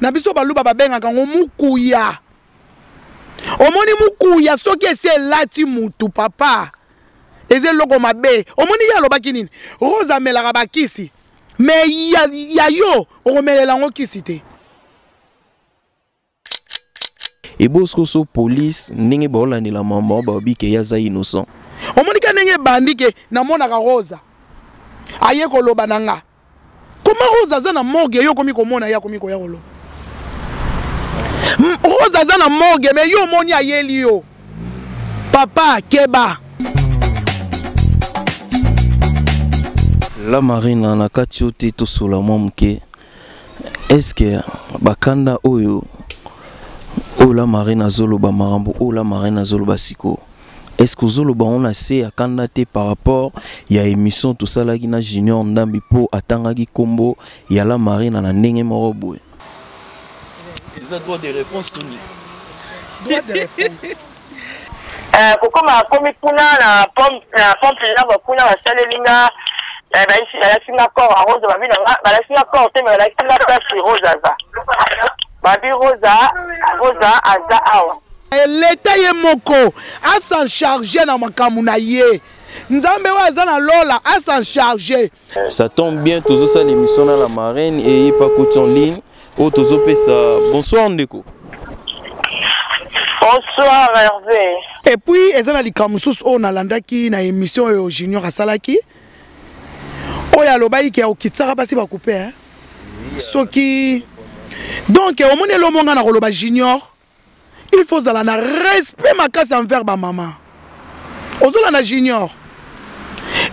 na biso baluba babengaka yango mukuya omoni mukuya soki esi elati mutu papa eza eloko mabe omoni ye alobaki nini rose amelaka bakisi me ya, ya yo okomelela yango kisi te eboskoso police ndenge baolandela mama baobi ke ye aza innocent omonike ndenge ebandi ke namonaka rosa aye koloba na nga koma rose aza na morgue yo okomi komona ye akomi koya koloba rose aza na morgue me yo omoni ayeli yo papa keba la marina na kati yo te tosola mwa moke eske bakanda oyo oyo la marina azoloba makambo oyo la marina azoloba sikoyo est-ce que ozoloba yango na se ya kanda te par rapport ya émission tosalaki na junior ndambi mpo atangaki nkombo ya la marina na ndenge moko boye eza droit de réponse toni droit de réponse eh, kokoma akomi kuna na pompe naba kuna basaleli nga eh, balaki nga corps ya rose babi na nga balaki nga corps te me balaki nga place rose aza Babi Rosa, Rosa aza awa. Eh, Leta ye moko a s'en charger na makambo na ye. Nzambe oyo aza na lola a s'en charger. Ça tombe bien tozo sala émission na la marraine et pas coach en ligne. Oh tozo pesa bonsoir ndeko. Bonsoir Hervé. Et puis eza na likambo mosusu oyo nalandaki na émission oyo Junior asalaki. oyo alobaki ke okitsaka basi bakupe eh? soki donc omoni elombo ngai nakoloba junior il faut ozala na respect makasi envers bamama ozolanda junior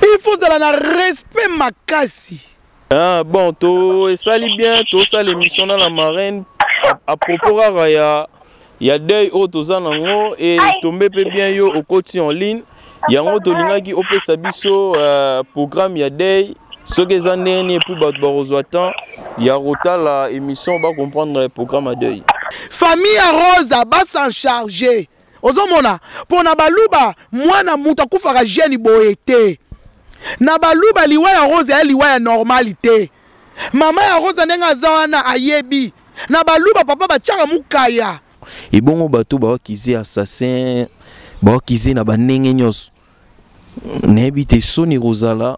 il faut ozala na respect makasi Ah, bon to esali bien tosala émission na la marraine à propos kaka ya ya deuil oyo toza nango e tombe mpe bien yo okoti en ligne yango tolingaki opesa biso uh, programme ya deuil soki eza ndenge nini epuis bato bakozwa temps ya kotala émission bacomprendre programme ya deuil famille ya rosa basencharge ozomona pona baluba mwana mutu akufaka jeune boye te na baluba liwa ya rose ya liwa ya normali te mama ya rose ndenge aza wana ayebi na baluba papa batiaka mukaya ebongo bato bawakize assassin bawakize na bandenge nyonso nayebi te soni kozala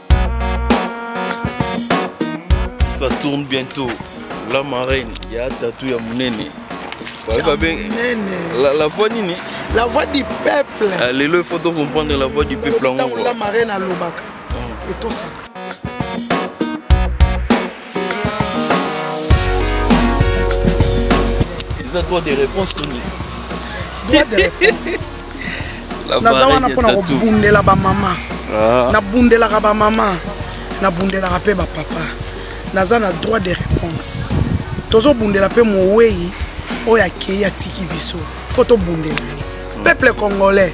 ça tourne bientôt la marraine ya tatu ya munene la, la voix nini la voix du peuple ah, lelo il faut to comprendre la voix du peuple yango la marraine alobaka mm. etosaka eza droit de réponse to nini droit de réponse naza wana mpo na kobundela bamama ah. nabundelaka bamama nabundelaka mpe bapapa naza na droit de réponse tozobundela mpe mowei oyo akei atiki biso fo tobundela ye peuple congolais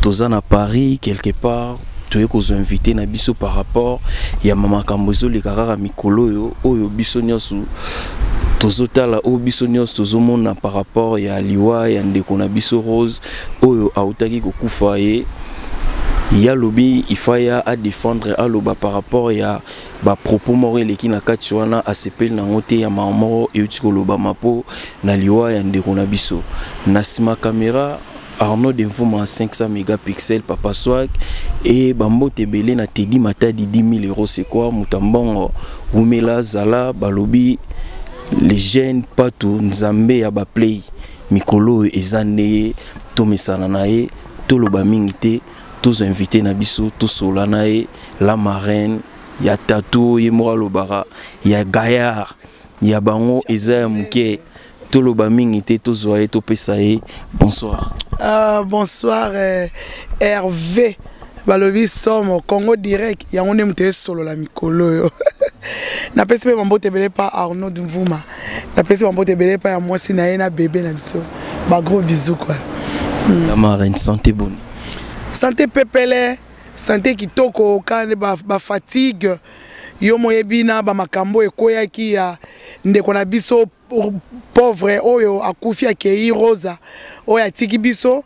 toza na paris quelque part toye kozwa invité na biso par rapport ya makambo ezoleka kaka mikolo oyo oyo biso nyonso tozotala oyo biso nyonso tozomona par rapport ya liwa ya ndeko na biso rose oyo autaki kokufa ye ya lobi ifaya adefendre aloba par rapport ya bapropos moko eleki na kati wana asepeli nango te ya mama moko euti kolobama mpo na liwa ya ndeko na biso na nsima kamera Arnaud de Mvuma 500 mégapixels Papa Swag et Bambote Belé na Teddy Matadi 10 000 euros c'est quoi Mutambongo Wumela Zala Balobi les jeunes Patou Nzambe ya ba play mikolo oyo eza nde tomesana na ye toloba mingi te tozo invité na biso tosola na ye la marraine ya tatou ye moko alobaka ya gaillard ya bango eza ya moke toloba mingi te tozwa ye topesa ye bonsoir ah, bonsoir eh, herve balobi somo congo direct yango nde moto esolola mikolo oyo napesi mpe bambote ebele mpa arnaud mvuma napesi bambote ebele mpa ya mwasi na ye na bebe na biso bagros bisou kua hmm. la marine santé boni santé pepele santé kitoko ka nde bafatigue ba yo moyebi na bamakambo ekweyaki ya ndeko na biso pauvre oyo akufi akei rosa oyo atiki biso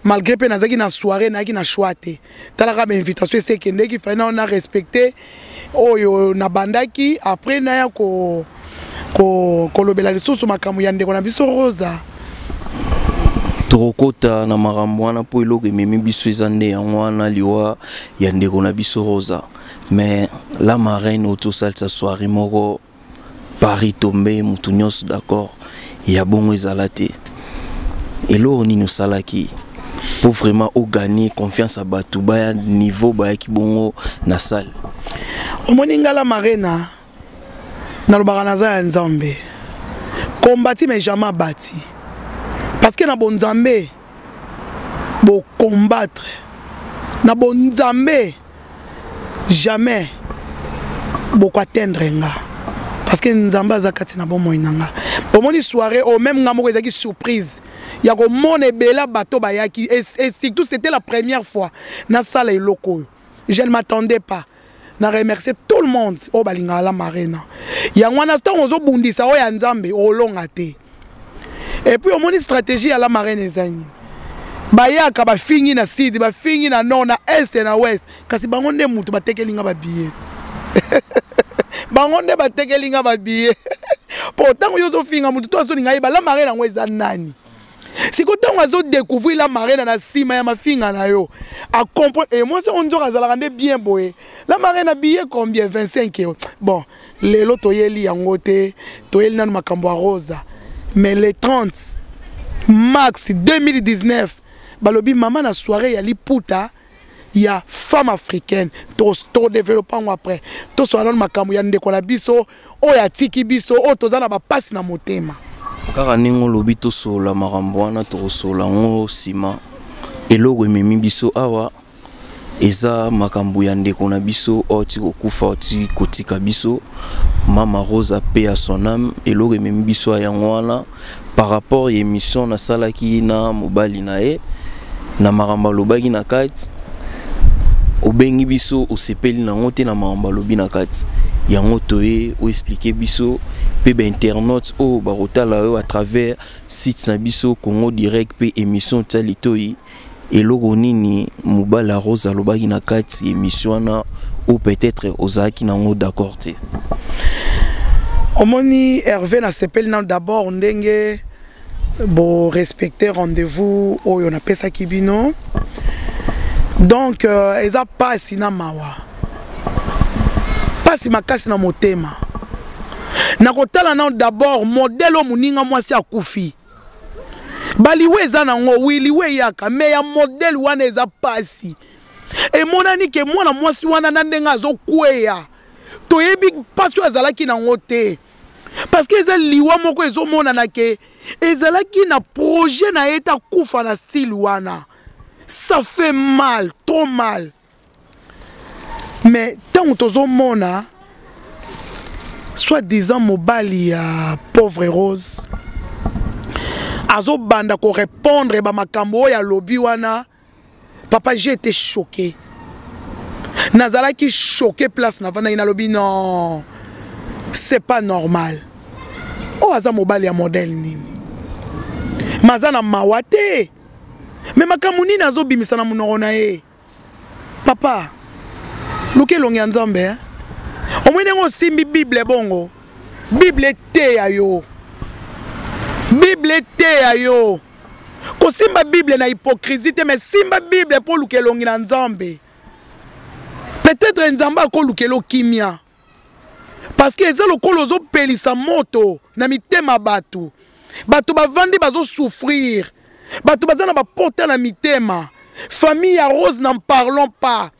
malgré mpe nazalaki na soirée nayaki na choix te talaka bainvitation esi ekendeki fai nao na respecte oyo nabandaki après naya ko, ko, kolobela lisusu makambo ya ndeko na biso rosa tokokota na makambo wana mpo eloko ememi biso eza nde yango wana liwa ya ndeko na biso rosa mais la marraine otosalisa soirée moko paris tombe moto nyonso d'accord ya bongo ezala te eloko nini osalaki mpo vraiment oganie confiance ya bato baya niveau bayaki bongo na salle omoni ngala marena nalobaka naza ya nzambe kombati mais jamais abati parce que na bonzambe bo combattre na bo nzambe jamais boko atteindre nga parce que nzambe aza kati na bomoi na nga omoni soirée oyo meme nga moko ezalaki surprise ya komona ebele bato bayaki et surtout c'était la première fois nasala eloko oyo je ne m'attendais pas na remercie tout le monde oyo balingaka la marina yango wana ntango ozobundisa oyo ya nzambe olonga te epuis omoni stratégie ya la marine eza nini bayaka bafingi na sud bafingi na nord na est na ouest kasi bango nde motu batekeli nga babillete bango nde batekeli nga babillet mpo ntango yo ozofinga motu to azolinga ye bala marine yango eza nani siko ntango azodecouvrir la marena na nsima ya mafinga na yo acomprendre e eh, mwasi yango nzoka azalaka nde bien boye la marena billet combien 25 euro bon lelo toyeli yango te toyeli nano makambo ya rosa mais le 30 max 2019 balobi mama na soirée ya liputa ya femme africaine todeveloppe yango après tosola nano makambo ya ndeko na biso oyo atiki biso oyo toza na bapasi na motema kaka ndenge olobi tosolola makambo wana tokosolola yango nsima eloko ememi biso awa eza makambo ya ndeko na biso oyo ti kokufa ti kotika biso mama rosa pe ya sonam eloko ememi biso ya yango wana par rapport ya émission nasalaki na mobali na ye na makambo alobaki na kati obengi biso osepeli na yango te na makambo alobi na kati yango toye oexplike biso mpe bainternaute oyo bakotala yo à travers site na biso congo direct mpe émission tia litoi eloko nini mobala rose alobaki na kati émission wana ou peut-être ozalaki nango d'accord te omoni herve nasepeli nano d'abord ndenge borespecte rendez-vous oyo napesaki bino donc euh, eza mpasi na mawa mpasi makasi na motema nakotala nano d'abord modele oyo moninga mwasi akufi baliwe eza nango wi liwe eyaka me ya modele wana eza mpasi emonani ke mwana mwasi wana na ndenge azokweya toyebi mpasi oyo azalaki nango te parceke eza liwa moko ezomonana ke ezalaki na projet na ye te akufa na style wana ça fait mal trop mal mais ntango tozomona soit disant mobali ya pauvre rose azobanda korépondre bamakambo oyo alobi wana papa j'ai été choqué nazalaki choqué place navandaki nalobi non c'est pas normal oyo oh, aza mobali ya modèle nini maza na mawa te me makambo nini azobimisa na monoko na ye papa luka elongi ya nzambe eh? omoi ndenge osimbi bible bongo bible eteya yo bible eteya yo kosimba bible na hypocrisie te me simba bible mpo oluka elongi na nzambe peut-être nzambe akolukela okimia parce que eza lokola ozopelisa moto na mitema bato bato bavandi bazosouffrir bato baza na bapota na mitema famille ya rose n'en parlons pas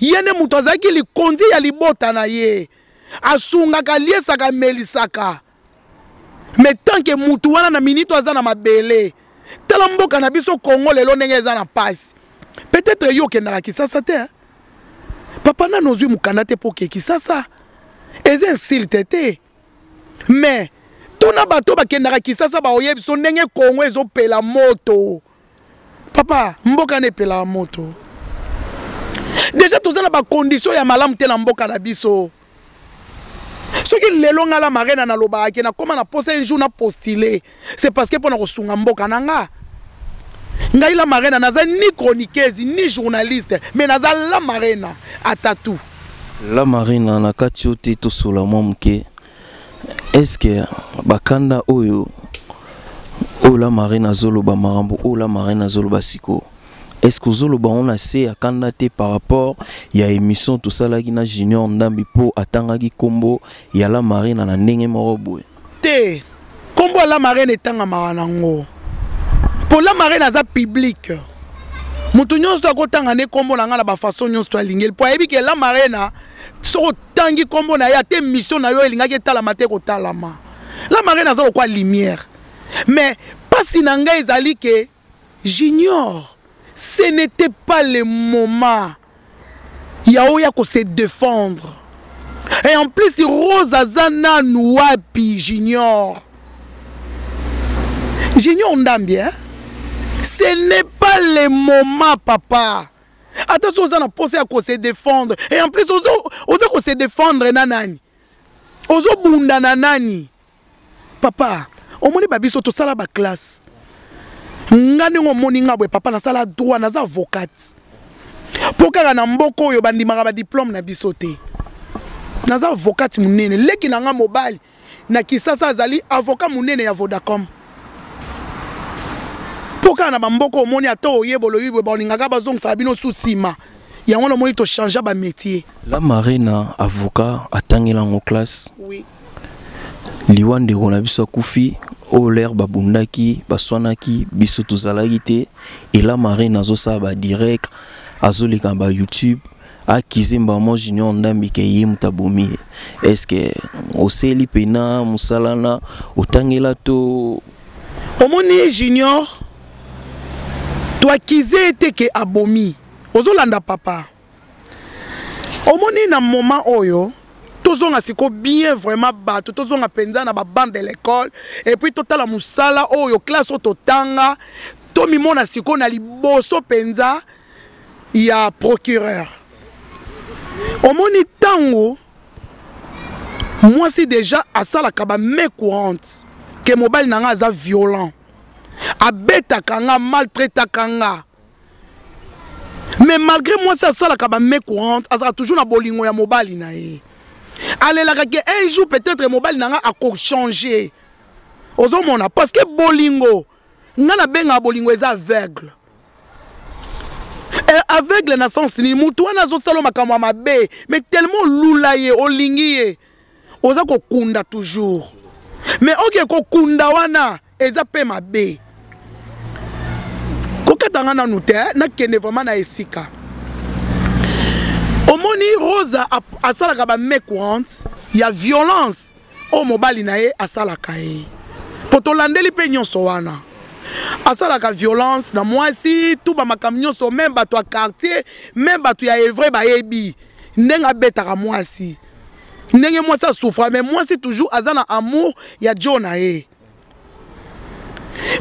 ye nde moto azalaki likonzi ya libota na ye asungaka aliesaka amelisaka mais tant que mutu wana na minute aza na mabele tala mboka na biso congo lelo ndenge eza na pasi peut-être yo okendaka kisasa te hein? papa nano ozwi mokanda te mpo oke kisasa eza insulte te mais tuna bato bakendaka kisasa baoyebi biso ndenge congo ezopela moto papa mboka na epelaka moto deja toza na bakondition ya malamu te na mboka na biso soki lelo ngai la marena nalobaka ke nakóma na posa un jour na postule c'est parce que mpo na kosunga mboka na nga ngai la marena naza ni chroniqueuse ni journaliste mais naza la marena atatu la marena na kati yo te tosola mwa moke est-ce que bakanda oyo oyo la marine azoloba makambo oyo la marine azoloba sikoyo est ce que ozoloba yango na se ya kanda te par rapport ya émission tosalaki na junior ndambi mpo atangaki nkombo ya la marina na ndenge moko boye te nkombo ya la marina etangamaka nango mpo la marina aza publike moto nyonso to akotanga nde nkombo na ngai na bafaso nyonso to alingeli mpo ayebi ke la marina soko tangi nkombo na ye ate mission na yo elingaki etalama te kotalama la marraine aza lokwa lumière mais mpasi na ngai ezali ke junior ce n'était pas le moment ya oya ko se défendre et en plus rose aza nanu wapi junior junior ndambi hein? ce n'est pas le moment papa ata soki oza na mposa ya kose défendre et en plus oza kose défendre na nani ozobunda na nani papa omoni babiso tosala baklasse nga ndenge omoni nga boye papa nasala droit naza avocate mpo kaka na mboka oyo bandimaka badiplome na biso te naza avocate monene leki na nga mobali na kisasa azali avoka monene ya vodacom mpo kaka na bamboko omoni ata oye boloyibwe baolingaka bazongisaka bino su nsima yango wana omoni tochangea bamétier la marina avocat atangela yango classe oui. liwa ndeko na biso akufi oyo lere babundaki baswanaki biso tozalaki te ela marine azosala badirect azoleka ba youtube akize mbamo junior ndambi ke ye moto abomi ye estce oseli mpena mosala na otangela to omoni ye junior to akize ye te ke abomi ozolanda papa omoni na moment oyo tozonga siko bien vraiment bato tozonga mpenza na babande de l'école epuis totala mosala oyo classe oyo totanga tomimona siko na liboso mpenza ya procureur omoni ntango mwasi deja asalaka ba mai courante ke mobali na ngai aza violent abetaka nga maltraitaka nga mais malgré mwasi asalaka ba mai courante azalaka toujours na bolingo ya mobali na ye alelaka ke un jour peut-être mobali na nga akochange ozomona parce que bolingo nga nabengaka bolingo eza aveugle eh, aveugle na sens nini motu wana azosala makambo ya mabe mais tellement olula ye olingi ye oza kokunda toujours mais oke kokunda wana eza mpe mabe kokata nga nanu te eh, nakende vraiment na esika omoni rosa asalaka ba mecourante ya violence oyo mobali na ye asalaka ye mpo tolandeli mpe nyonso wana asalaka violence na mwasi tu bamakambo nyonso meme bato ya quartier meme bato ya evre bayebi ndenge abetaka mwasi ndenge mwasi asufra mais mwasi toujours aza na amour ya jo na ye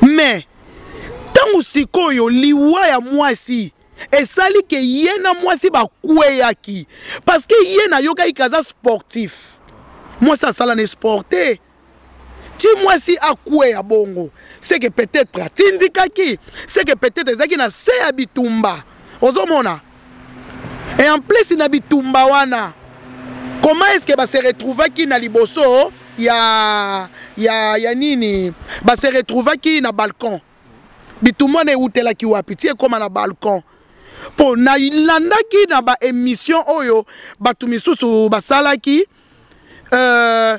mais ntango sikoyo liwa ya mwasi esali ke ye na mwasi bakweyaki parce que ye nayokaki ke aza sportif mwasi asala na sport te ti mwasi akweya bongo seke peut-être atindikaki seke peut-être ezalaki na se ya bitumba ozomona et en plus na bitumba wana comment est-ce que base retrouvaki na liboso ya ya ya nini base retrouvaki na balcon bitumba na ewutelaki wapi ti ekoma na balcon mpo nalandaki na baémission oyo bato misusu basalaki euh,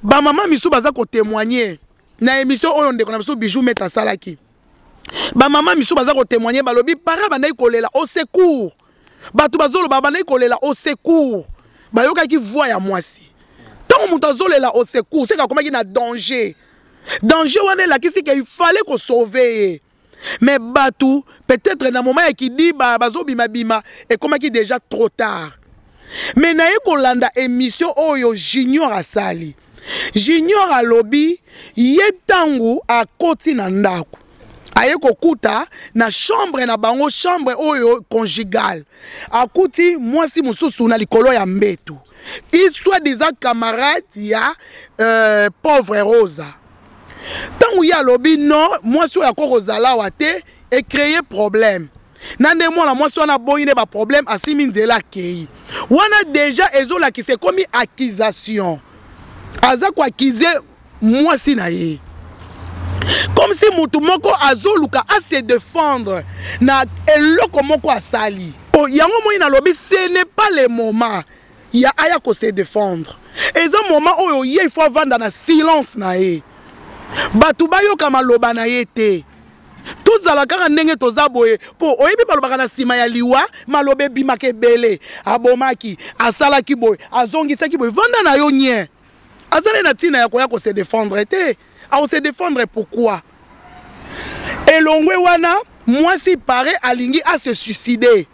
bamama misusu baza kotémoigne na émission oyo ndeko na biso bijou mete asalaki bamama misusu baza kotémoigne balobi para bandaki kolela au secours bato bazoloba bandaki kolela au secours bayokaki voix ya mwasi ntango moto azolela au secours seke akomaki na danger danger wana elakisi ke il fallait ko sauver ye mais bato peut-être na moment ya kidiba bazobimabima ekomaki déjà trop tard mais naye kolanda émission oyo junior asali junior alobi ye ntango akoti na ndako aye kokuta na chambre na bango chambre oyo conjugale akuti mwasi mosusu na likolo ya mbetu il soit disant camarade ya euh, pauvre rosa ntango ye alobi non mwasi oyo akoki kozala awa te ecreye problème na nde mwana mwasi wana aboyi nde baproblème asimi nzela akei wana deja ezolakisa ekomi accusation aza koakize mwasi na ye comme si moto moko azoluka a se défendre na eloko moko asali oh, yango moi nalobi ce n'est pas le moment ya aya ko se défendre eza moment oyo ye il faut avanda na silence na ye bato bayoka maloba na ye te tozala kaka ndenge toza boye mpo oyebi balobaka na nsima ya liwa maloba ebimaka ebele abomaki asalaki boye azongisaki boye vanda na yo nye azali na ntina ya koya kose defendre te akose defendre pourquoi elongwe wana mwasi pare alingi ase suicide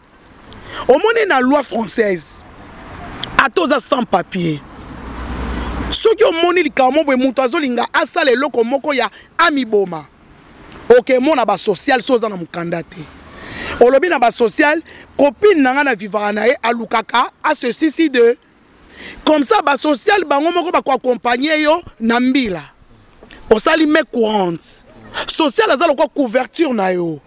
omoni na loi française ata oza sans papier soki omoni likambo mo boye moto azolinga asala eloko moko ya amiboma okemona basociale so oza na mokanda te olobi na basociale kopine na ngai na vivaka na ye alukaka asesisi de comme ça ba social bango moko ba ko accompagner yo na mbila osali me courante social aza lokola couverture na yo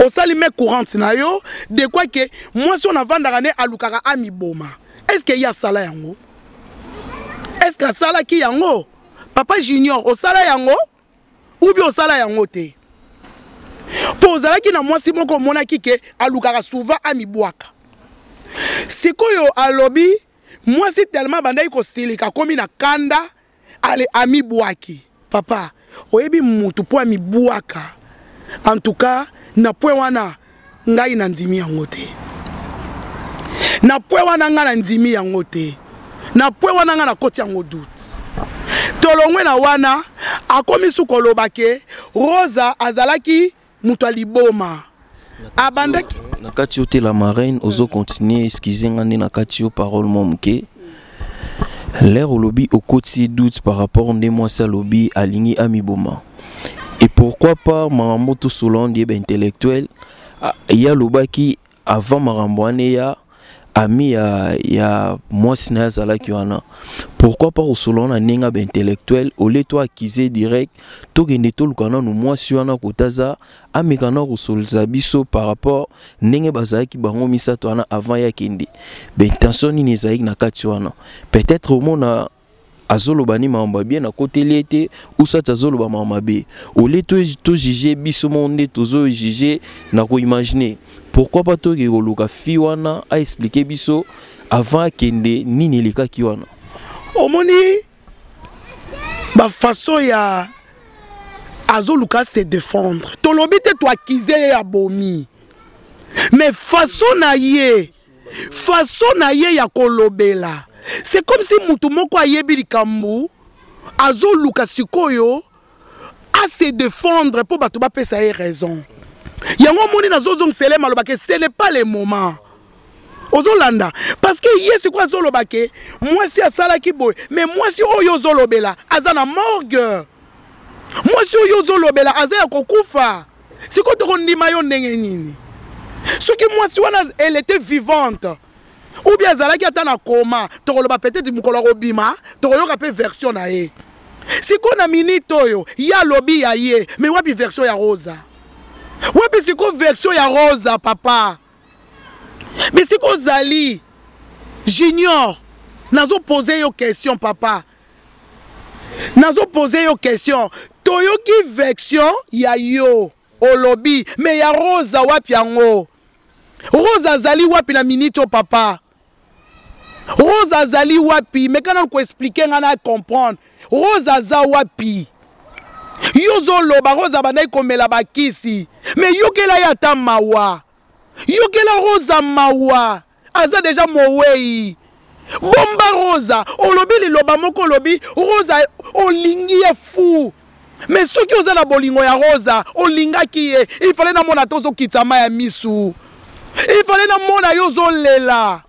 osali me courante na yo de quoi que mwasi oyo navandaka nde alukaka amiboma est ce que ye asala yango est ce que asalaki yango papa junior osala yango ubi osala yango te mpo ozalaki na mwasi moko omonaki ke alukaka souvent amibwaka sikoyo alobi mwasi telema abandaki kosilika akomi na kanda ale amibwaki papa oyebi mutu mpo amibwaka en tout cas na point wana ngai nandimi yango te na pwe wana ngai nandimi yango te na pwe wana ngai nakoti yango doute tolongwe na wana akomi su koloba ke rosa azalaki moto ya liboma abandaki na kati yo te la marraine ozo continue excuse nga nde na kati yo parole mwa moke L'air olobi okoti doute par rapport nde mwasi alobi alingi amiboma. Et pourquoi pas maman Moto Solange yeba intellectuel ah, ya lobaki avant makambo wana ya ami ya, ya mwasi na ye azalaki wana pourquoi pas kosolola na ndenge ba intellectuel olie to accuse direct tokende toluka nanu mwasi wana kota aza ameka na kosolza biso par rapport ndenge bazalaki bango misato wana avant ya kende baintention nini ezalaki na kati wana peut-être omona azoloba ni makambo bien nakoteli ye te usati azoloba makambo mabe olie tojuge biso moko nde tozojuge na koimagine pourquoi pas toke koluka fi wana aexplike biso avant akende nini elekaki wana omoni ba façon ya azoluka se défendre tolobi te toakize ye ya bomi mais façon na ye façon na ye ya kolobela c'est comme si motu moko ayebi likambo azoluka sikoyo a se défendre mpo bato bapesa ye raison yango omoni nazozongisa ele maloba ke ce n'est pas le moment ozolanda parce que ye sikoyo azoloba ke mwasi asalaki boye mais mwasi oyo ozolobela aza na morgue mwasi oyo ozolobela aza ya kokufa sikoyo tokondima yo ndenge nini soki mwasi wana elle était vivante ou bien azalaki ata na koma tokoloba peut-être mokolo akobima tokoyoka mpe version na ye sikoyo na minute oyo ye alobi ya ye me wapi version ya rosa wapi sikoyo version ya rosa papa me sikoyo ozali junior nazopose yo question papa nazopose yo question toyoki version ya yo Olobi mais ya Rosa wapi yango? Rosa azali wapi na minute o papa? Rosa azali wapi? Meka na ko expliquer nga na comprendre. Rosa aza wapi? Yo zoloba Rosa bandaki komela bakisi. Mais yokela ye ata mawa. Yokela Rosa mawa. aza deja mowei bomba rosa olobi liloba moko olobi rosa olingi ye fou me soki oza na bolingo ya rosa olingaki ye ifale namona te ozokitisa ma ya misu ifale namona yo ozolela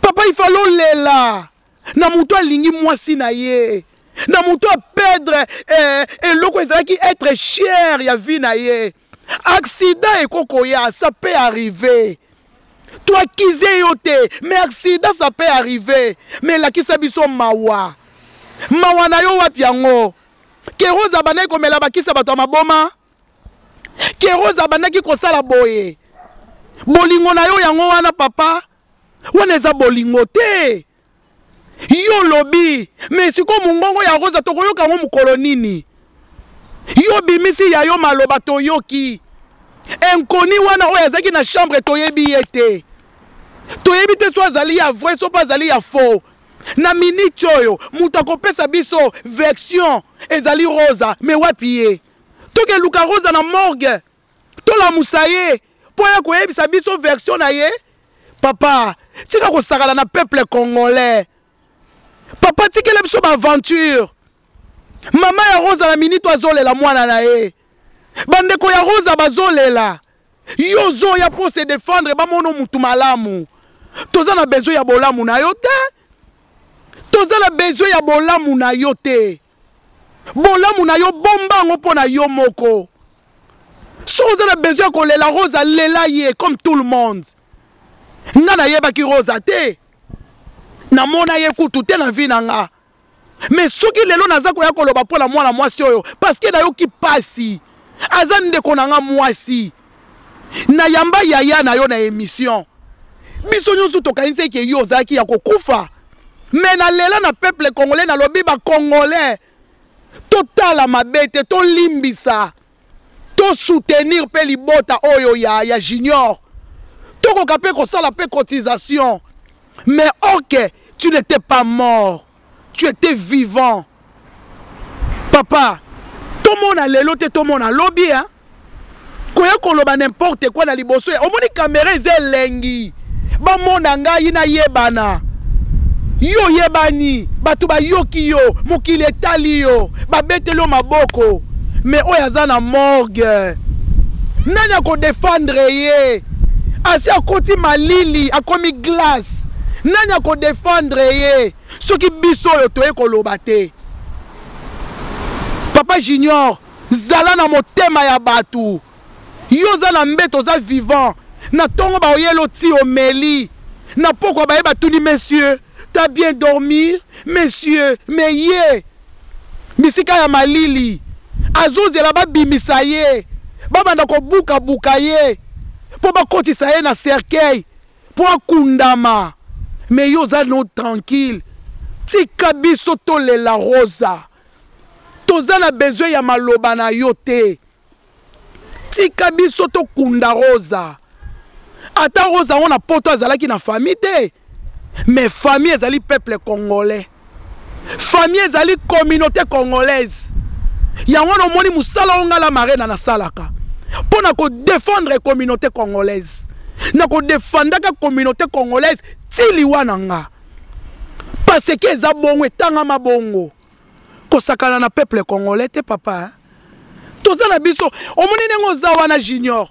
papa ifale olela na moto alingi mwasi na ye na moto apedre eh, eloko ezalaki etre chere ya vi na ye accident eko koya ça peut arriver toakize yo te mais accident ça peut arriver mais lakisa biso mawa mawa na yo wapi yango keroza abandaki komela bakisa bato ya maboma keroza abandaki kosala boye bolingo na yo yango wana papa wana eza bolingo te yo olobi me sikoyo mongongo ya rosa tokoyoka yango mokolo nini yo obimisi ya yo maloba toyoki inkoni wana oyo azalaki na chambre toyebi ye te toyebi te so azali ya vrai so mpe azali ya faux na miniti oyo moto akopesa biso version ezali rosa me wapi ye tokeluka rosa na morgue tolamusa ye mpo ya koyebisa biso version na ye papa tika kosakana na peuple congolais papa tikela biso baaventure mama ya rosa na minito azolela mwana na ye bandeko ya rosa bazolela yo ozoya mpo se defendre bamono mutu malamu toza na besoin ya bolamu na yo te toza na besoin ya bolamu na yo te bolamu na yo bomba yango mpo na yo moko soki oza na besoin ya kolela rose alela ye comme tout le monde nga nayebaki rosa te namona ye kutu te na vi na nga me soki lelo naza koya koloba mpo na mwana mwasi oyo parceke nayoki mpasi aza ndeko na nga mwasi na yamba yaya na yo na emission biso nyonso tokanisi eke yo ozalaki ya kokufa me na lela na peuple congolais nalobi bacongolais totala mabe te tolimbisa tosoutenir mpe libota oyo ya, ya junior tokoka mpe kosala mpe cotisation mais ok tu n'étais pas mort tu étais vivant papa tomona lelo te tomona lobi hein? koya koloba n'importe quoi na liboso ya omoni kamera eza elengi bamona ngai nayebana yo oyebani bato bayoki yo mokili etali yo babeteli yo maboko me oyo aza na morgue nani akodefendre ye asi akoti malili akomi glace Felix nani ako défendre ye soki biso oyo toye koloba te papa junior zala na motema ya bato yo oza na mbeto oza vivant na ntongo baoyelo ti omeli na pokwa baye batuni monsieur ta bien dormir monsieur me ye bisika ya malili azozela babimisa ye babanda kobukabuka ye mpo bakotisa ye na cercueil mpo akundama me yo oza no tranquille tika biso tolela rosa toza na besoin ya maloba na yo te tika biso tokunda rosa ata rosa yango na poto azalaki na famille te mais famille ezali peuple congolais famille ezali communauté congolaise yango wana omoni mosala oyo ngai la marena nasalaka mpo na kodefendre communauté congolaise na kodefandaka communauté congolaise ti liwa na nga paseke eza bongo etangama bongo kosakana na peuple congolais te papa toza na biso omoni ndenge oza wana junior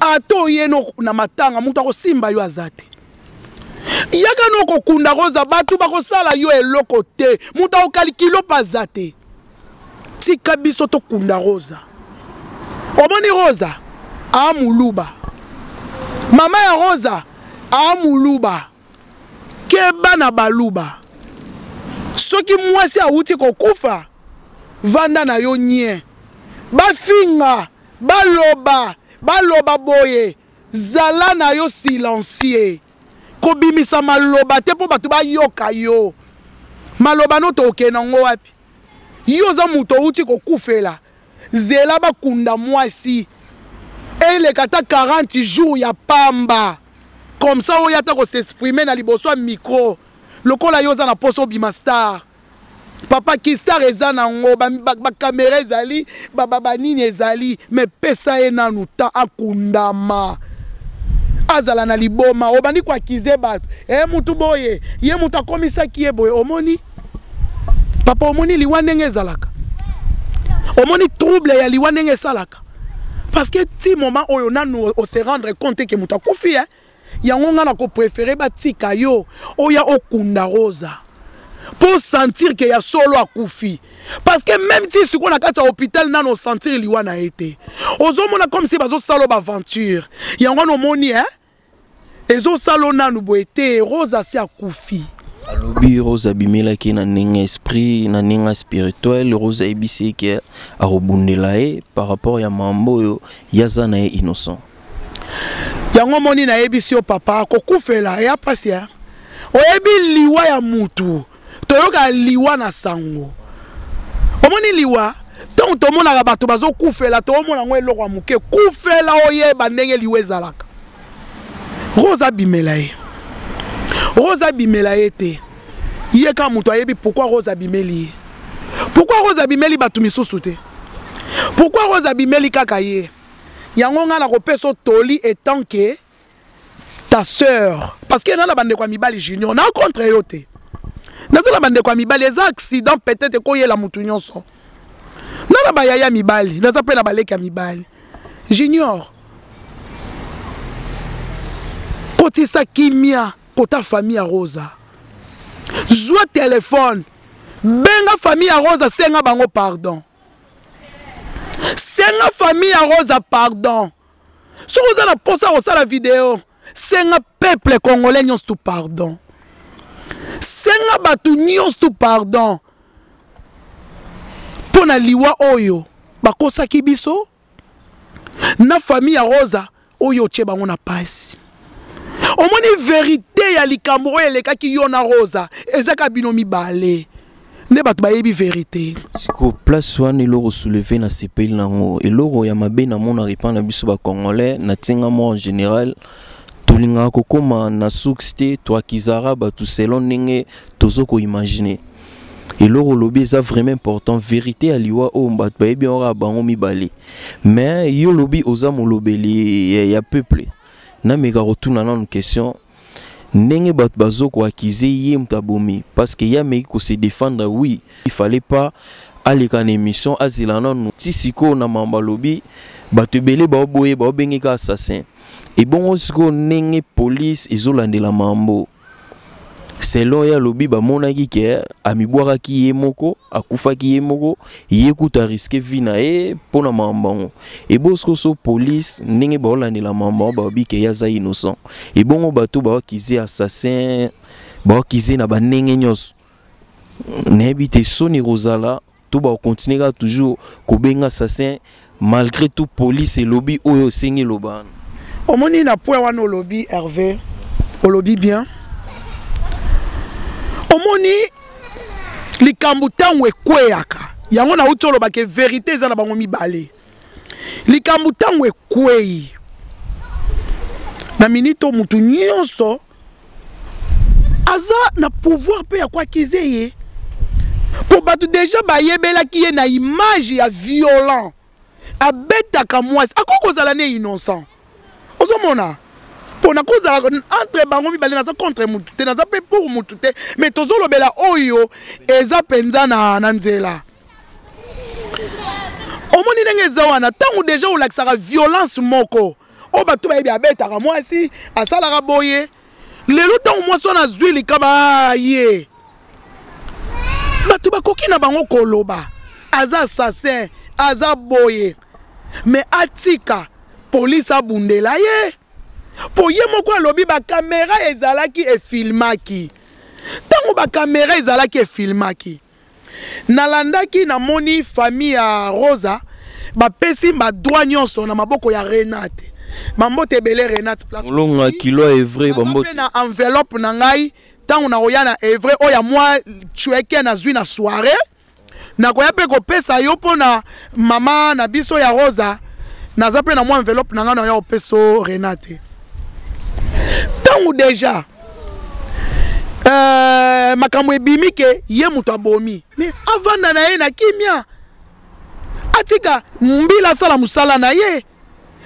ata oyeno na matanga moto akosimba yo aza te yaka no kokunda koza bato bakosala yo eloko te moto akokali kilo mpe aza te tika biso tokunda rosa omoni rosa aa moluba mama ya rosa aa moluba keba na baluba soki mwasi awuti kokufa vanda na yo nye bafinga baloba baloba boye zala na yo silencieux kobimisa maloba te mpo bato bayoka yo maloba no tookee nango wapi yo oza moto outi kokufela zela bakunda mwasi eleka ata 40 jours ya pamba comme ça oya ata kosexprime na liboso ya micro lokola yo oza na mposa obima star papa kistar eza na yango bakamera ezali banini ezali me pesa ye nanu temps akundama azala na liboma obandi koakize bato e eh, motu boye ye moto akomisaki ye boye omoni papa omoni liwa ndenge ezalaka omoni trouble ya liwa ndenge esalaka parce que ti moment oyo nanu ose rendre compte ke moto akufi e eh. yango ngai nako prefere batika yo oya okunda rosa mpo sentir ke ya solo akufi parce que même ti sikoyo na kati ya hôpital nano osentir liwa na ye te ozomona comme si bazosala baaventure yango wana omoni e ezosala o nanu boye te rose asi akufi alobi rose abimelaki na ndenge esprit na ndenge spirituel rose ayebisi ye ke akobundela ye par rapport ya mambo oyo ye aza na ye innocent yango moni nayebisi yo papa kokufela ya mpasi ya oyebi liwa ya mutu toyokaka liwa na sango omoni liwa ntango tomonaka bato bazokufela toomona yango eloko ya moke kufela oyeba ndenge liwa ezalaka rose abimela ye rose abimela ye te ye kaka moto ayebi pourkui rose abimeli ye pourkui rose abimeli bato misusu te pourkui rose abimeli kaka ye yango ngai nakopesa yo toli etant ke ta sœur parce que na na bandeko ya mibali junior na contre yo te naza na bandeko ya mibali eza accident peut-être ekoyela motu nyonso na na bayaya mibali naza mpe na baleki ya mibali junior kotisa kimia kota famille ya rosa zwa telefone benga famille ya rosa senga bango pardon senga famille ya rosa pardon soki oza na posa kosala video senga peuple congolais nyonso tu pardon senga bato nyonso tu pardon mpo na liwa oyo bakosaki biso na famille ya rosa oyo otye bango na pasi omoni verite ya likambo oyo elekaki yo na rosa ezaka bino mibale nde bato bayebi verite siko place wana eloko souleve na sepeli nango eloko ya mabe namonaka epai na biso bacongolais na ntinga moko en général tolingaka kokóma na suks te toakizaka bato selon ndenge tozo koimagine eloko olobi eza vraiment important verité ya liwa oyo bato bayebi yango kaka bango mibale mais yo olobi oza molobeli ya, ya peuple nameka kotuna nanu question ndenge bato bazokoakize ye moto abomi parce que ye ameki kose défendre oui il fallait pas aleka na émission azela nanu ti sikoyo na mambo alobi bato ebele baoboye baobenge ka assassin ebongo sikoyo ndenge police ezolandela mambo selon ye alobi bamonaki ke amibwakaki ye moko akufaki ye moko ye kutu ariske vi na ye mpo na makambo yango eboskoso polise ndenge baolandela makambo yango balobi ke ye aza innocent ebongo bato baokize assassin baokize na bandenge nyonso nayebi te soni kozala to ba continuer kaka toujours kobenga assassin malgré tout police elobi oyo osengi loba omoni na point wana olobi herve olobi bien omoni likambo ntango ekweyaka yango nauti olobaka verité eza na bango mibale likambo ntango ekweyi na minite oyo motu nyonso aza na pouvoir mpe ya koakize ye mpo bato deja bayebelaki ye na image ya violent abetaka mwasi akoki kozala ne innocent ozomona mpo nakozala entre bango mibale naza contre motu te naza mpe pour motu te mais tozolobela oyo eza mpenza na, na nzela omoni ndenge eza wana ntango deja olakisaka violence moko oyo bato bayebi abetaka mwasi asalaka boye lelo ntango mwasi wana azwi likama ye bato bakoki na bango koloba aza assassin aza boye me atika polisi abundela ye mpo ye moko alobi bakamera ezalaki efilmaki ntango bakamera ezalaki efilmaki nalandaki namoni famille ya rosa bapesi badroit nyonso na maboko ya renate bambote ebele renate placeolonga kilo ya evrai bambote na enveloppe na ngai ntango nakoya na evrai oyo ya mwa cueke nazwi na soirée nakoya mpe kopesa yo mpo na mama na biso ya rosa naza mpe na mwa enveloppe na ngai naoya kopesa renate ntango deja euh, makambo ebimi ke ye moto abomi mais avanda na ye na kimia atika mbila asala mosala na ye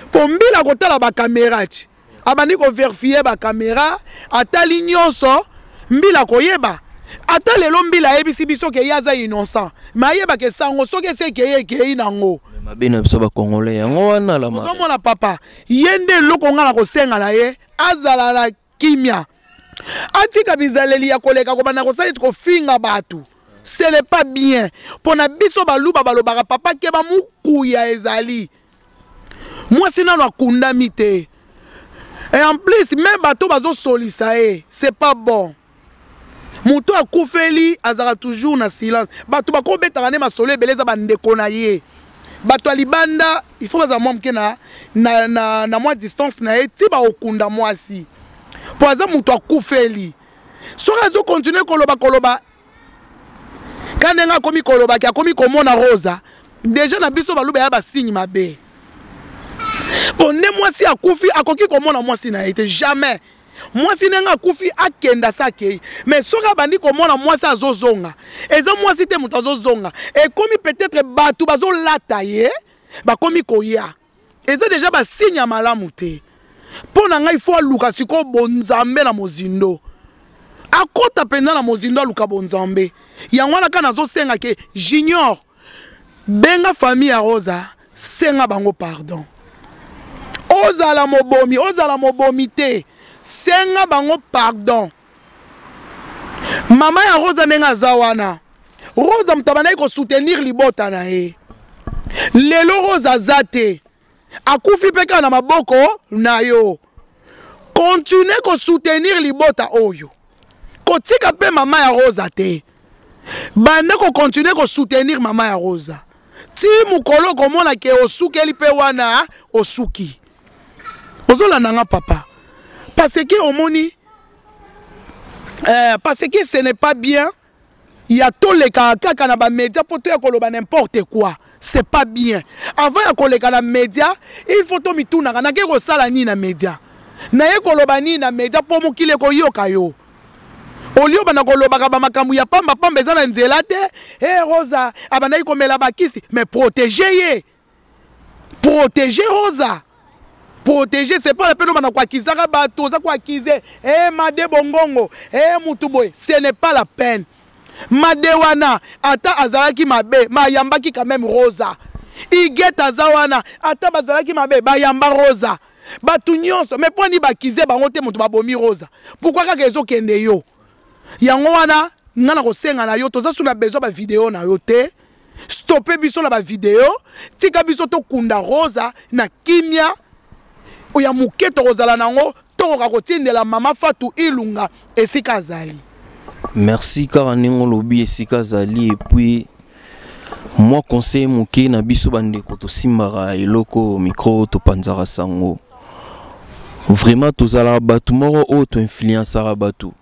mpo mbila akotala bakamera ti abandi koverifie bakamera atali nyonso mbila akoyeba ata lelo mbila ayebisi biso ke ye aza innocent me ayebaka esango soki esi ekei ekei nango mabe na biso bacongolais yango wana lamaozomona papa ye nde eloko ngai na kosenga na ye azala na kimia atika bizaleli ya koleka kobanda kosala eti kofinga bato ce n'est pas bien mpo na biso baluba balobaka papa keba mokuya ezali mwasi nano akundami te et en plus me bato bazosolisa ye c'est pas bon moto akufeli azalaka toujours na silence bato bakobetaka nde masolo ebele eza bandeko na ye bato ya libanda il faut bazala mwa moke na, na, na, na mwa distance na ye ti baokunda mwasi mpo aza moto akufeli soki azokontinue koloba koloba ka ndenge akomi kolobaki akomi komona rosa deja na biso baluba ya basigne mabe mpo nde mwasi akufi akoki komona mwasi na ye te jamais mwasi ndenge akufi akenda se akei me soki abandi komona mwasi azozonga eza mwasi te moto azozonga ekomi peut-être bato bazolata ye bakomi koya eza deja basigne ya malamu te mpo na ngai fo aluka sikoyo bonzambe na mozindo akota mpenza na mozindo aluka bonzambe yango wana kaka nazosenga ke junior benga famille ya rosa senga bango pardon ozala mobomi ozala mobomi te senga bango pardon mama ya rosa ndenge aza wana rosa moto abandaki kosoutenir libota na ye lelo rosa aza te akufi mpe kaka na maboko na yo kontinue kosoutenir libota oyo kotika mpe mama ya rosa te banda kokontinue kosoutenir mama ya rosa ti mokolo okomona ke osukeli mpe wana osuki ozolanda nga papa parce que omoni euh, parce que ce n'est pas bien ya tolekaka kaka na bamedia mpo toya koloba n'importe quoi c'est pas bien avant ya koleka na media il faut tomitunaka nake kosala nini na media naye koloba nini na media mpo mokili ekoyoka yo olio banda kolobaka bamakambo ya pambapamba eza na nzela te e eh, hey, rosa abandaki komela bakisi mais protege ye protéger rosa protéger c'est pas la peine obanda koakizaka bato oza koakize e eh, made bongongo e eh, motu boye ce n'est pas la peine made wana ata azalaki mabe mayambaki quand même rosa iget aza wana ata bazalaki mabe bayamba rosa bato nyonso me mpo ni bakize bango te moto babomi rosa pourkui kaka ezokende yo yango wana ngai nakosenga na yo toza su na besoin bavideo na yo te stope biso na bavideo tika biso tokunda rosa na kimia oya moke tokozala na yango tokoka kotindela mama fatu ilunga esika azali merci kaka ndenge olobi esika azali epuis mwa conseil moke na biso bandeko tosimbaka eloko mikro topanzaka sango vraiment tozalaka bato moko oyo toinfluensaka bato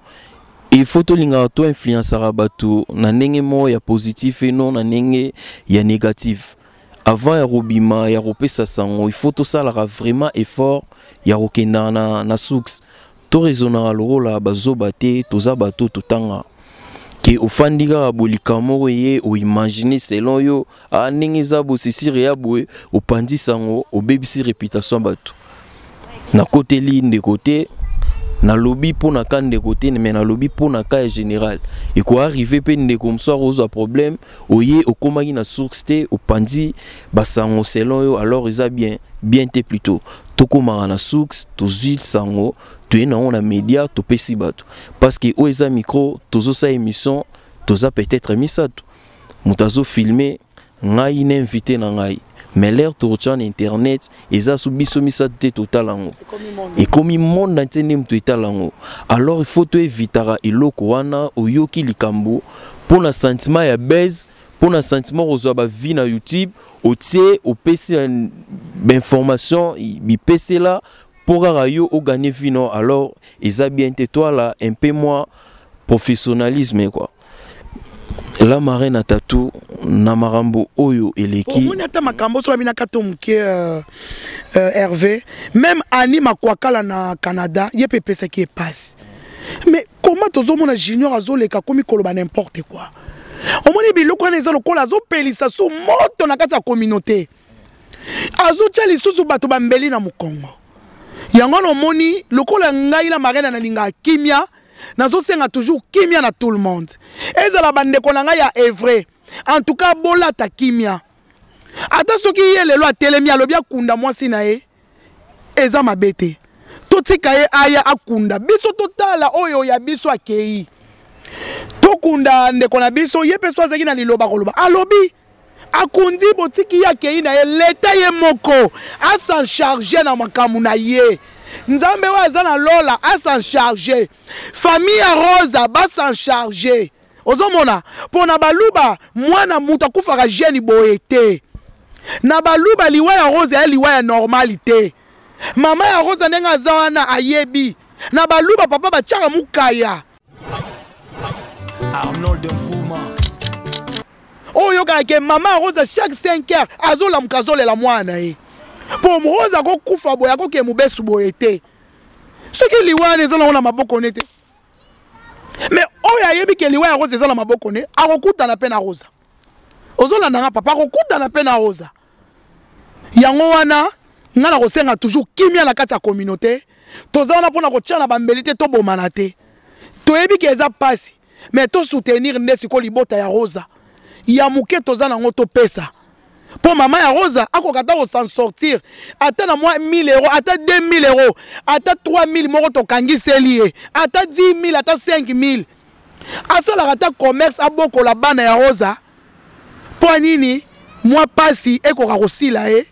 Il faut tolingaka to influençaka bato na ndenge moko ya positif et non na ndenge ya négatif. Avant ya kobima ya kopesa sango, il faut tosalaka vraiment effort ya kokendaka na, na source. Toraisonnaka lokola bazoba te, toza bato totanga. Ke ofandi kaka bolikama moko eye oimagine selon yo Ah, ndenge eza bosisire ya boye opanzi sango obebisi reputation bato nakoteli ndeko te nalobi mpo na ka ndeko te me nalobi mpo na ka ya général ekoarrive mpe ndeko mosusu ozwa problème oye okomaki na source te opanzi basango selon yo alors eza bien bien te plutôt tokomaka na source tozwi sango toye nango na média topesi bato parce que oyo eza micro tozosala émission toza peut-être misato moto azo filme ngai na invité na ngai mais l'air torture na internet eza so biso misato te totala yango ekomi monde entier nde moto etala yango alors il faut toevitaka eloko wana oyoki likambo mpo na sentiment ya base mpo na sentiment kozwa bavie na youtube otie opesi bainformation bipesela mpo kaka yo oganye vino alors eza bien te toala un peu mwa professionnalisme quoi la marraine à tatou na makambo oyo eleki omoni ata makambo oso babinaka to moke euh, euh, herve même ani makwakala na canada ye mpe epesaki ye mpasi mais comment tozomona junior azoleka komi koloba n'importe quoi omoni biloko wana eza lokola azopelisa su moto na kati ya communauté azotya lisusu bato bambeli na mokongo yango wana omoni lokola ngai na marena nalingaka kimia nazosenga toujours kimia na tout le monde ezala bandeko na ngai ya evre en tout cas bolata kimia ata soki ye lelo atelemi alobi akunda mwasi na ye eza mabe te totika ye aya akunda biso totala oyo ya biso akei tokunda ndeko na biso ye mpe so azalaki na liloba koloba alobi akundi botiki ye akei na ye leta ye moko asan charge na makambo na ye nzambe oyo aza na lola asan charge famille ya rosa basan charge ozomona mpo na baluba mwana moto akufaka jeni boye te na baluba liwa ya rosa ya liwa ya normali te mama ya rosa ndenge aza wana ayebi na baluba papa batyaka mokaya Arnold Nfuma oyokaka ke mama rosa chaque 5 heures azolamuka azolela mwana na ye mpo rosa akokufa boye akoke mobesu boye te soki liwa wana eza nango na maboko ne te mais oyo ayebi ke liwa ya rosa eza na maboko ne akokutana mpe na rosa ozolanda nga papa akokutana mpe na rosa yango wana nga nakosenga toujours kimia na kati ya communauté toza wana mpo na kotya na bambeli te tobomana te toyebi ke eza mpasi me tosoutenir nde sikoyo libota ya rosa ya moke toza nango topesa mpo mama ya rosa akoka ata kosan sortir ata na mwa 1000 euro ata 2000 euro ata 3000 moko tokangiseli ye ata 10 000 ata 5000 asalaka ata commerce abokola bana ya rosa mpo nini mwa mpasi ekoka kosila ye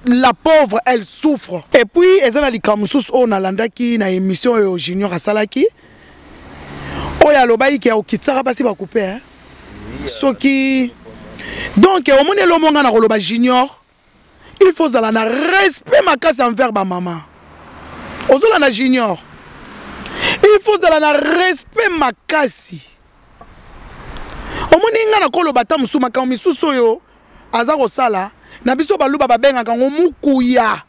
la pauvre elle souffre et puis eza na likambo mosusu oyo nalandaki na émission oyo junior asalaki oyo alobaki ke okitisaka basi bakupe soki donc omoni elombo ngai na koloba junior il faut ozala na respect makasi envers bamama ozolanda junior il faut ozala na respect makasi omoni ngai nakoloba ata mosusu makambo misusu oyo aza kosala na biso baluba babengaka yango mokuya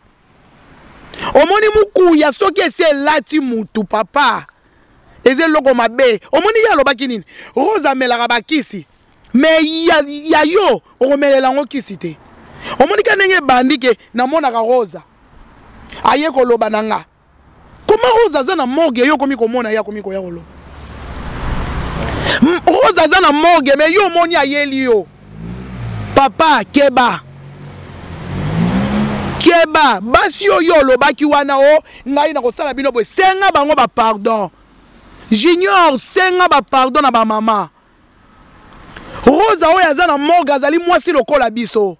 omoni mokuya soki esi elati mutu papa eza eloko mabe omoni ye alobaki nini rose amelaka bakisi mais ya, ya yo okomelela yango kisi te omoni ka ndenge ebandi ke namonaka rosa aye koloba na nga koma rosa aza na morgue yo okomi komona ye akomi koya koloba rosa aza na morgue me yo omoni ayeli yo papa keba keba basi oyo olobaki wana o oh, ngai nakosala bino boye senga bango bapardon junior senga bapardon na bamama rosa oyo aza na morgue azali mwasi lokola biso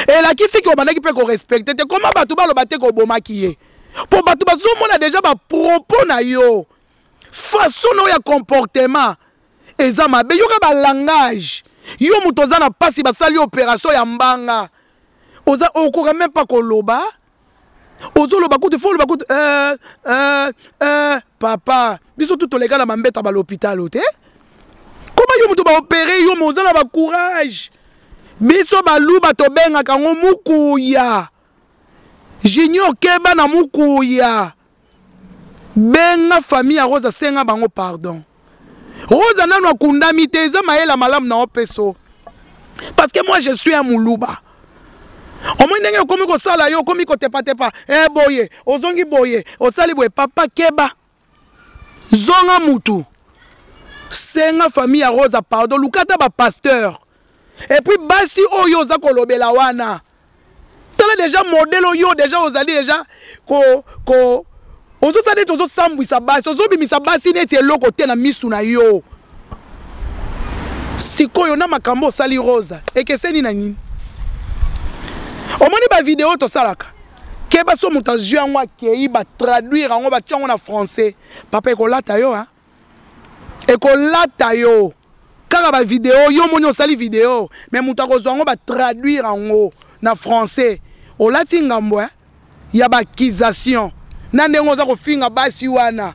elakisi ke obandaki mpe korespecte te koma bato baloba te kobomaki ye mpo bato bazomona deja bapropos na yo façon na yo ya comportement eza mabe yoka balangage yo moto oza na mpasi basali operation ya mbanga oza okoka meme mpa koloba ozoloba kutu fo oloba kutu eh, eh, eh, papa biso tu toleka na mambeta balopitalo te koma yo moto baopere yo ma oza na bacourage biso baluba tobengaka yango mokuya junior keba na mokuya benga famille ya rosa senga bango pardon rosa nanu akundami te eza mayela malamu na opeso parce que moi je suis un muluba omoi ndenge okomi kosala yo okomi kotepatepa e eh, boye ozongi boye osali boye papa keba zonga mutu senga famille ya rosa pardon lukata bapasteur epuis basi oyo oza kolobela wana tala deja modele oyo deja ozali deja ko, ko ozosala neti ozosambwisa basi ozobimisa basi neti eloko te na misu na yo sikoyo na makambo osali rosa ekeseni na nini omoni bavideo tosalaka keba so moto azwi yango akei batraduire yango batya yango na français papa ekolata yo a ekolata yo kaka bavideo yo omoni osali video me moto akozwa yango batraduire yango na français olati ngambo eh? ya baakisation na ndenge oza kofinga basi wana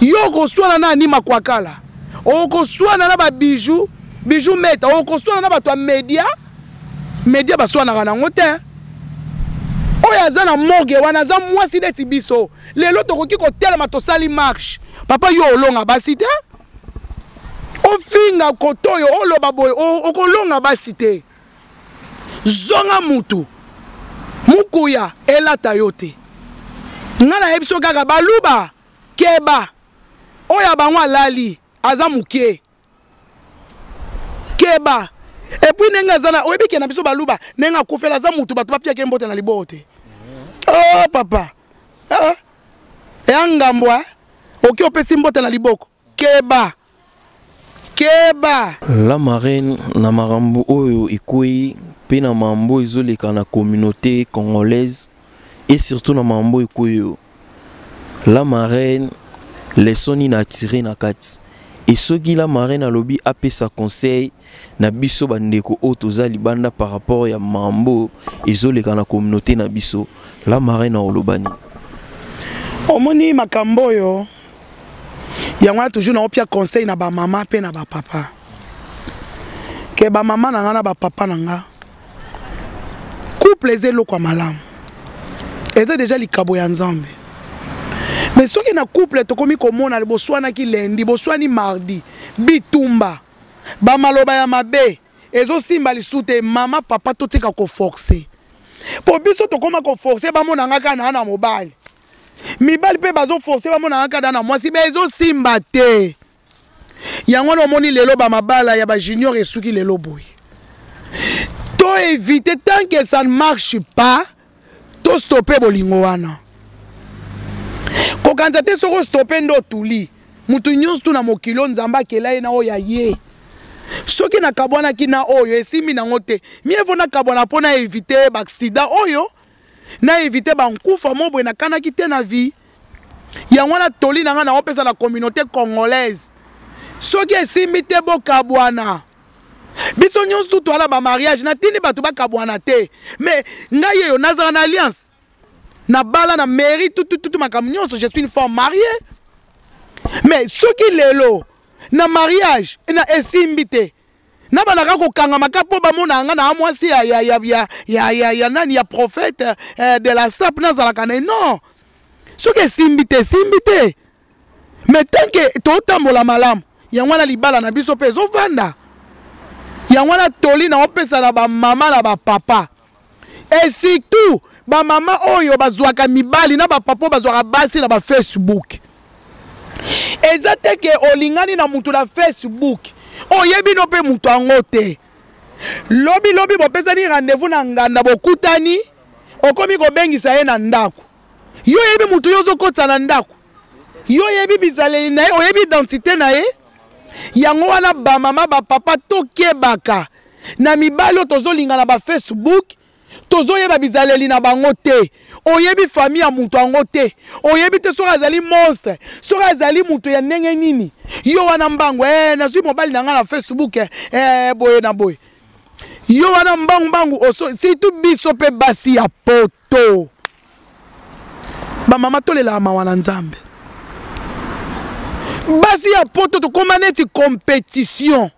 yo okoswana na ani makwakala okoswana na babiju biju meta okoswana na bato ya media media baswanaka nango te oyo aza na morgue wana aza mwasi neti biso lelo tokoki kotelema tosali marche papa yo olonga basi te ofinga koto oyo oloba boye okolonga basi te zonga mutu mokuya elata yo te ngai nayebi so kaka baluba keba oyo ya bango alali aza moke keba epuis ndenge aza na oyebi ke na biso baluba ndenge akufela aza motu bato bapiaki mbote na liboo te o oh, papa ah. ya ngambwa eh? oki opesi mbote na liboko keba keba la marine na makambo oyo ekwei mpe na mambo ezoleka na communauté congolaise et surtout na mambo ekoyo la marraine leçon nini atire na kati e soki la marraine alobi apesa conseil na biso bandeko oyo toza libanda par rapport ya mambo ezoleka na communauté na biso la marraine aoloba nini omoni makambo oyo yango wana toujours naopia conseil na bamama mpe na bapapa ke bamama na ngai na bapapa na ngai couple eza eloko ya malamu eza deja likabo ya nzambe me soki na couple tokomi komona boswanaki lendi boswani mardi bitumba bamaloba ya mabe ezosimba lisu te mama papa totika koforce mpo biso tokóma koforce bamona nga kaka naa na mobali mibali mpe bazoforce bamona nga kaka naa na mwasi be ezosimba te yango wana omoni lelo bamabala ya bajunior esuki lelo boye to évite tant que ça ne marche pas to stoppe bolingo wana kokanisa te soki ostoppe nde otuli moto nyonso tu na mokili oyo nzambe akela ye na oyo ya ye soki nakabwanaki na oyo esimbi nango te mievo nakabwana mpo na évite baaksida oyo na éviter ba nkufa mo boye nakanaki te na vie yango wana toli na ngai naopesa na communauté congolaise soki esimbi te bokabwana biso nyonso tu toala bamariage natindi bato bakabwana te mais ngai yeyo nazala na alliance nabala na mairie tutututu makambo nyonso je suis une femme mariée mais soki lelo na mariage na esimbi te na balaka kokangama ka mpo bamonaka nga na mwasi ya, ya, ya, ya, ya, ya, ya nani ya prophète eh, de la sap nazalaka na non soki esimbi te esimbi te mais tant ke totambola malamu yango wana libala na biso mpe ezovanda yango wana toli na opesa na bamama na bapapa et surtout bamama oyo bazwaka mibali na bapapa oyo bazwaka basi na bafacebook eza te ke olingani na moto na facebook oyebi no mpe moto yango te lobi lobi bopesani rendez-vous na nganda bokutani okomi kobengisa ye na ndako yo oyebi moto yo ozokotisa na ndako yo oyebi bizaleli na ye oyebi identité na ye yango wana bamama bapapa tokebaka na mibali oyo tozolinga na bafacebook tozoyeba bizaleli na bango te oyebi famille ya moto yango te oyebi te soki azali monstre soki azali moto ya ndenge nini yo wana mbangu e eh, nazwi mobali na ngai na facebook e eh, boye na boye yo wana mbangu mbangu surtout biso mpe basi ya poto to bamama tolelaka mawa na nzambe basi ya poto tokóma neti compétition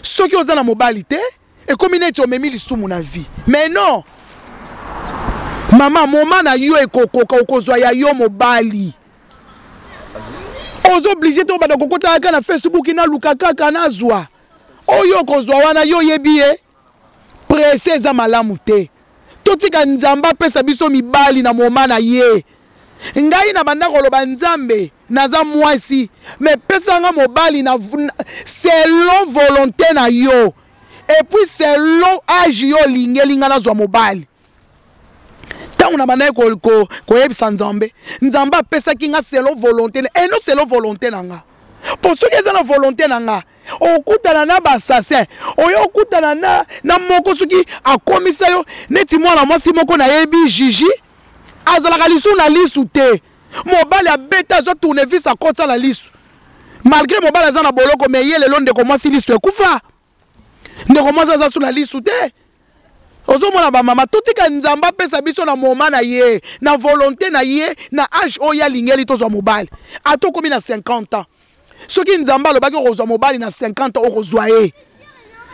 soki oza na mobali te ekomi neti omemi lisumu na vie mais non mama moma na yo ekokoka okozwa ya yo mobali ozo oblige te obanda kokotaka kaka na facebook naluka kaka nazwa oyo okozwa wana yo oyebi ye presse eza malamu te totika nzambe apesa biso mibali na moma na ye ngai na banda koloba nzambe naza mwasi me pesanga mobali na selon volonté na yo epuis selon age yo olingi elinga nazwa mobali ntango na bandaki koyebisa nzambe nzambe apesaki nga selo volonté eno eh, selo volonté na nga mpo soki eza na volonté na nga okutana na basasin oyo okutana na, na moko soki akomisa yo neti mwana mwasi moko nayebi jiji azalaka lisu na lisu te mobali abeta azwa tournevis akotisa na lisu malgré mobali aza na boloko me ye lelo ndeko mwasi lisu ekufa ndeko mwasi aza suna lisu te ozomona bamama totika nzambe apesa biso na moma na ye na volonté na ye na age oyo alingeli tozwa mobali ata okomi na 50 ans soki nzambe alobaki okozwa mobali na 50 ans okozwa ye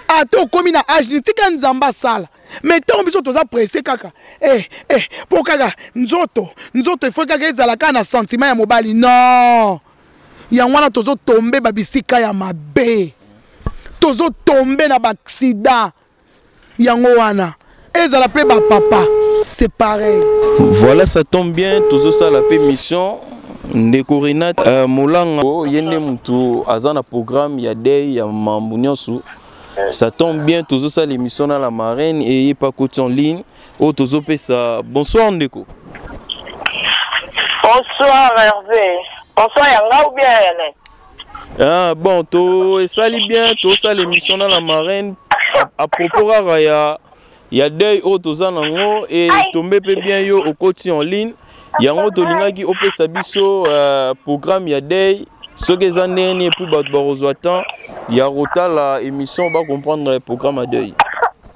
ata okomi na age nini tika nzambe asala mai ntango biso toza presse kaka eh, eh, mpo kaka nzoto nzoto efoi kaka ezala kaka na sentiment ya mobali non yango wana tozo tombe ba bisika ya mabe tozo tombe na ba accident yango wana ezala mpe ba papa c'est pareil voilà ça tombe bien tozo sala mpe mission ndeko renat uh, euh, molanga oh, ye nde motu aza na programme ya dei ya mambo nyonso ça tombe bien tozosala émission na la marraine eye pakoti en ligne oyo tozopesa bonsoir ndeko bonsoir herve bonsoir ya nga ou bien ya nani ah, bon to esali bien tosala émission na la marraine à propos kaka ya ya deuil oyo toza nango e tombe mpe bien yo okoti en ligne yango tolingaki opesa biso uh, programme ya deuil soki eza ndenge nini epuis bato bakozwa temps ya kotala émission bacomprendre programme ya deuil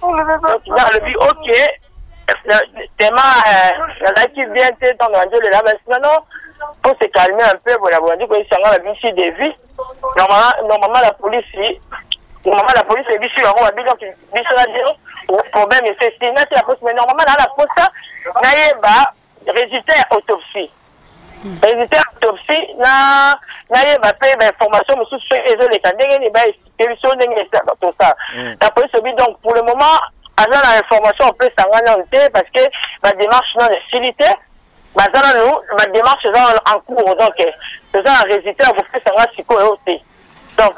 donc nga alobi ok tema nazalaki bien te ntango nandi olela basi nono mpo se calme un peu bona bolandi koyebisa nga babisi de vie normalement la police normalement la police ebisi yango babino biso na bino problème esesi nati la police mais normalement naa na posa nayeba Résultat ya autopsie. Hmm. Résultat ya autopsie na nayeba mpe bainformation mosusu soki ezoleka ndenge nini baexplike biso ndenge esilaka tosala hmm. na polisi obi donc pour le moment aza na information opesa ngai nano te parce que badémarche nano esili te baza nano badémarche eza nano en cours donc eh, toza na résultat ya kopesa ngai sikoyo te donc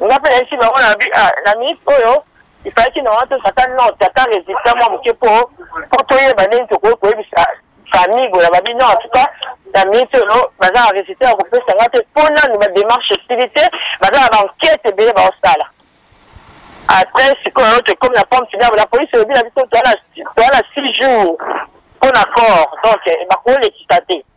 nga mpe nayebisi bango na ah, minute oyo ifalaki na wana tozwa ata note ata resultat mwa moke mpo mpo toyeba ndenge tokoki koyebisa famille boye babi non en tout cas na minute oyo baza na resultat ya kopesa nga te mpo nanu bademarche esili te baza na bankete ebele baosala après sikoyo tokomi na pomme finable la police elobi na biso toya na six jours mpo na corps donc bakolekisa te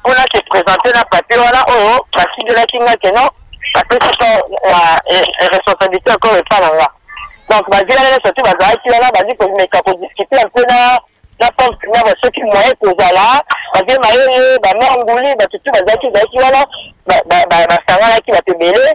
mpo na se présente na papier wana oyo basidelaki nga ke non bapesi ko responsabilité encore epa na nga donc bazwi wana nyonso tu bazalaki wana bazwi komeka kodiscute un peu na na pompe na basoki moyen kozala baze mayele bamanguli bato tu bazalaki ezalaki wana basanganaki bato ebele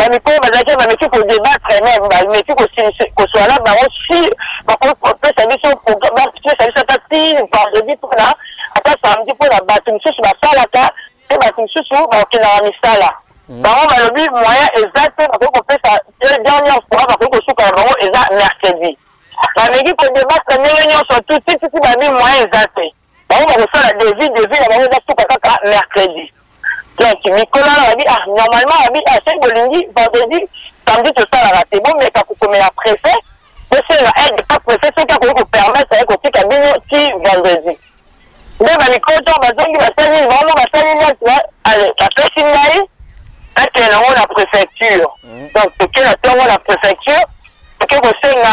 bamikolo bazalaki bameki kodebatre meme bameki kosuana bango si bakoki kopesa biso bapesa biso ata ti vendredi mpona ata samedi mpona bato mosusu basalaka mpe bato mosusu bakendaka misala hmm. bango balobi moyen eza te bakoki kopesa dernière fois bakoki kosuka na bango eza mercredi bameki kodebatre ndenge nyonso tutititi babi moyen eza te bango bakosala devis devis na bango ezasuka kaka mercredi donc mikolo wana babi ah normalement babi ah soki bolingi vendredi samedi tosalaka te bomeka kokomela prefet bosenga aide pa prefet soki akoki kopermettre ye kotika bino ti vendredi nde bamikolo to bazongi basali bango basali neti bapesi ngai akende yango na préfecture donc tokenda to yango na préfecture toke kosenga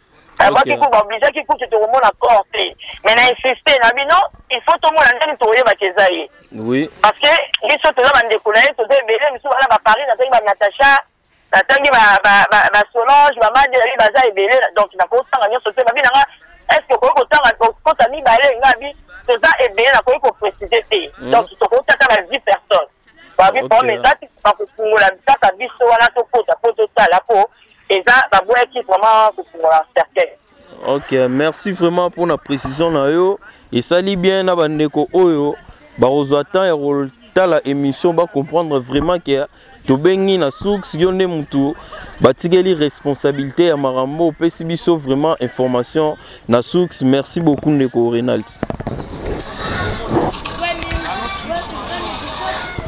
abaki kutu baobligeaki kutu tokomona corps te mais na insiste na bino il faut tomona ndenge tokoyebaka eza ye oui parce que biso toza bandeko na ye toza ebele misusu bana baparis natangi banatacha natangi basolange bamadeli baza ebele donc nakosanga nyonso te babi nanga est ce que okoki kotanga kota mibale ngabi toza ebele nakoki koprécise te hmm. donc tokotaka na 10 personnes babi problème eza ti bakofungola kaka biso wana tokota mpo totala mpo eza baboyaki vraiment kofungola cercueil ok merci vraiment mpona précision na yo esali bien na bandeko oyo bakozwa temps ya kotala émission bacomprendre vraiment ke tobengi na source yo nde motu batikeli responsabilité ya makambo opesi biso vraiment information Na sucks, merci beaucoup ndeko Renald.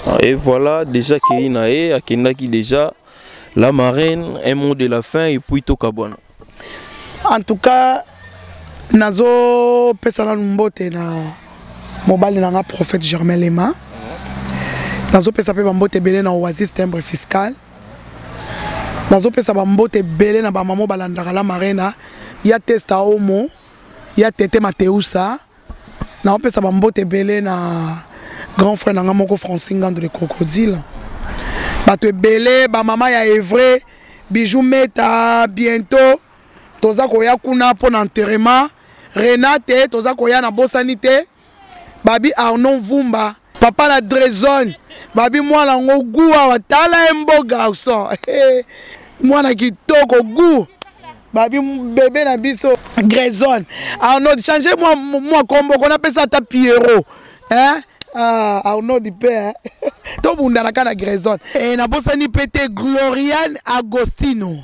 Ah, et voilà, déjà Keina et Akendaki déjà la marraine, un mot de la fin et puis Tokabwana. En tout cas, nazo pesa nanu mbote na mobali na nga prophète Germain Lema. Nazo pesa pe ba mbote belé na Oasis timbre fiscal. nazopesa bambote ebele na bamamo balandaka la marena ya testa omo ya tete mateusa naopesa bambote ebele na grand frère na ngai moko franci ngando le crocodile bato ebele bamama ya evre bijou meta bientôt toza koya kuna mpo na enterrement renate toza koya na bosani te babi arnon vumba papa na drezone babi mwana yango gu awa tala ye mbo garçon mwana kitoko gu babi bebe na biso grezone arnold change mwa, mwa kombo kona apesa ata pierrot hein? ah, arnold mpe eh? tobundana ka na grezone e, eh, nabosani mpe te gloriane agostino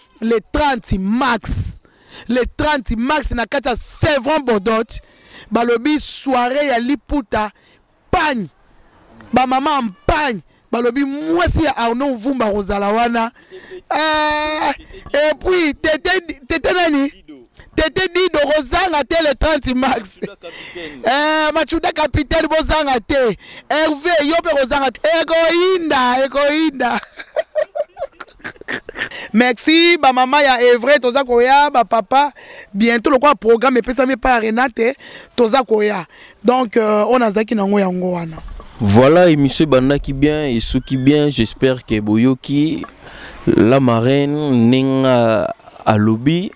le 30 mars le 30 mars na kati ya sevron bodot balobi soirée ya liputa pagne bamama ya mpagne balobi mwasi ya arnaud vumba akozala wana ah, epuis tete, tete nani tete dido kozanga te le 30 max eh, machuda capitaine bozanga te herve yo mpe kozanga te ekoyinda ekoyinda merci ba mama ya evre toza koya ba papa bientôt lokola programme epesami epai ya renate toza koya donc euh, oyo nazalaki nango yango wana voilà émission ebandaki bien esuki bien j'espère que boyoki la marraine ndenge alobi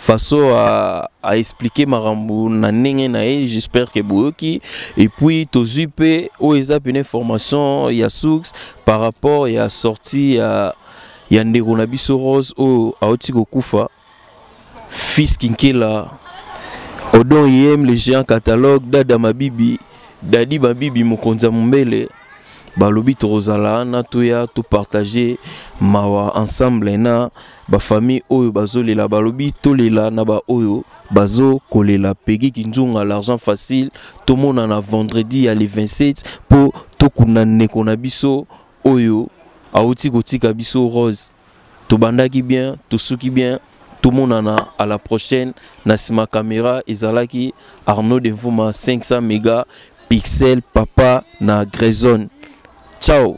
façon à, à expliquer makambo na ndenge na ye j'espère que boyoki et puis tozwi mpe oyo eza pene formation ya source par rapport ya sortie ya, ya ndeko na biso rose oyo auti kokufa fils kinkela odon yem le géant catalogue dada mabibi dadi mabibi mokonzi ya mombele balobi tokozala na toya topartage mawa ensemble na ba famille oyo bazolela balobi tolela na ba oyo bazo kolela pegi kinzunga l'argent facile tomonana vendredi ya le 27 mpo tokunda ndeko na biso oyo auti kotika biso rose tobandaki bien tosuki bien tomonana à la prochaine na nsima caméra ezalaki arnaud de mvuma 500 mega pixel papa na grezone ciao